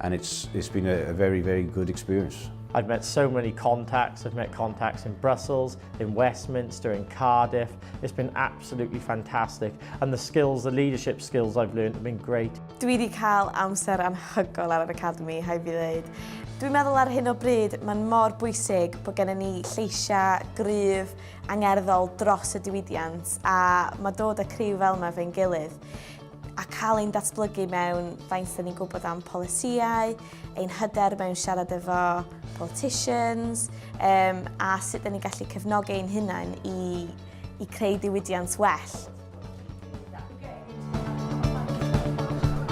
And it's, it's been a, a very, very good experience. I've met so many contacts. I've met contacts in Brussels, in Westminster, in Cardiff. It's been absolutely fantastic. And the skills, the leadership skills I've learned have been great. Dwi wedi cael amser anhygol ar yr Academy, hai fi ddeud. Dwi'n meddwl ar hyn o bryd, mae'n mor bwysig bod gennym ni lleisiau gryf angerddol dros y diwydiant a mae dod y criw fel yma fe'n gilydd. a cael ein datblygu mewn faint dda ni'n gwybod am polisïau, ein hyder mewn siarad efo politicians, um, a sut dda ni'n gallu cefnogi ein hunain i, i creu diwydiant well.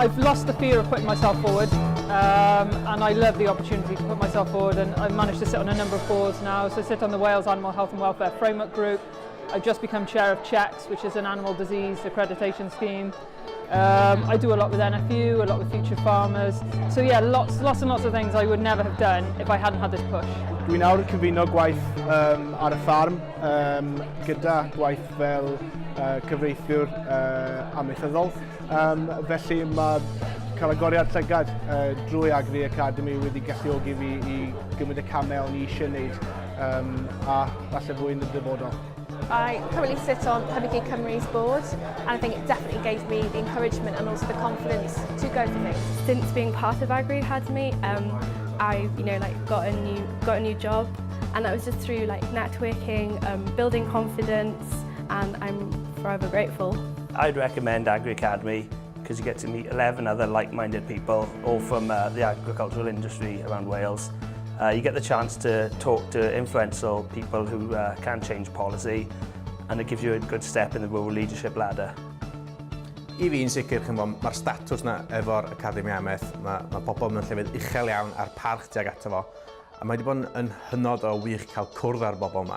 I've lost the fear of putting myself forward um, and I love the opportunity to put myself forward and I've managed to sit on a number of boards now. So I sit on the Wales Animal Health and Welfare Framework Group, I've just become chair of CHECS, which is an animal disease accreditation scheme. Um, I do a lot with NFU, a lot with Future Farmers. So yeah, lots, lots and lots of things I would never have done if I hadn't had this push. Dwi'n awr cyfuno gwaith um, ar y ffarm um, gyda gwaith fel uh, cyfreithiwr uh, amaethyddol. Um, felly mae cael agoriad llygad uh, drwy Agri Academy wedi galluogi fi i gymryd y camau o'n i eisiau gwneud um, a falle fwy yn y dyfodol. I currently sit on Pembrokeshire Cymru's board and I think it definitely gave me the encouragement and also the confidence to go for things. Since being part of Agri Academy, um, I've you know like got a new got a new job and that was just through like networking, um, building confidence and I'm forever grateful. I'd recommend AgriAcademy because you get to meet 11 other like-minded people all from uh, the agricultural industry around Wales. Uh, you get the chance to talk to influential people who uh, can change policy and it gives you a good step in the rural leadership ladder. I fi'n sicr, mae'r statws na efo'r Academi Ameth, mae, mae pobl mewn llefydd uchel iawn a'r parch tuag ato fo, a mae wedi bod yn hynod o wych cael cwrdd â'r bobl yma.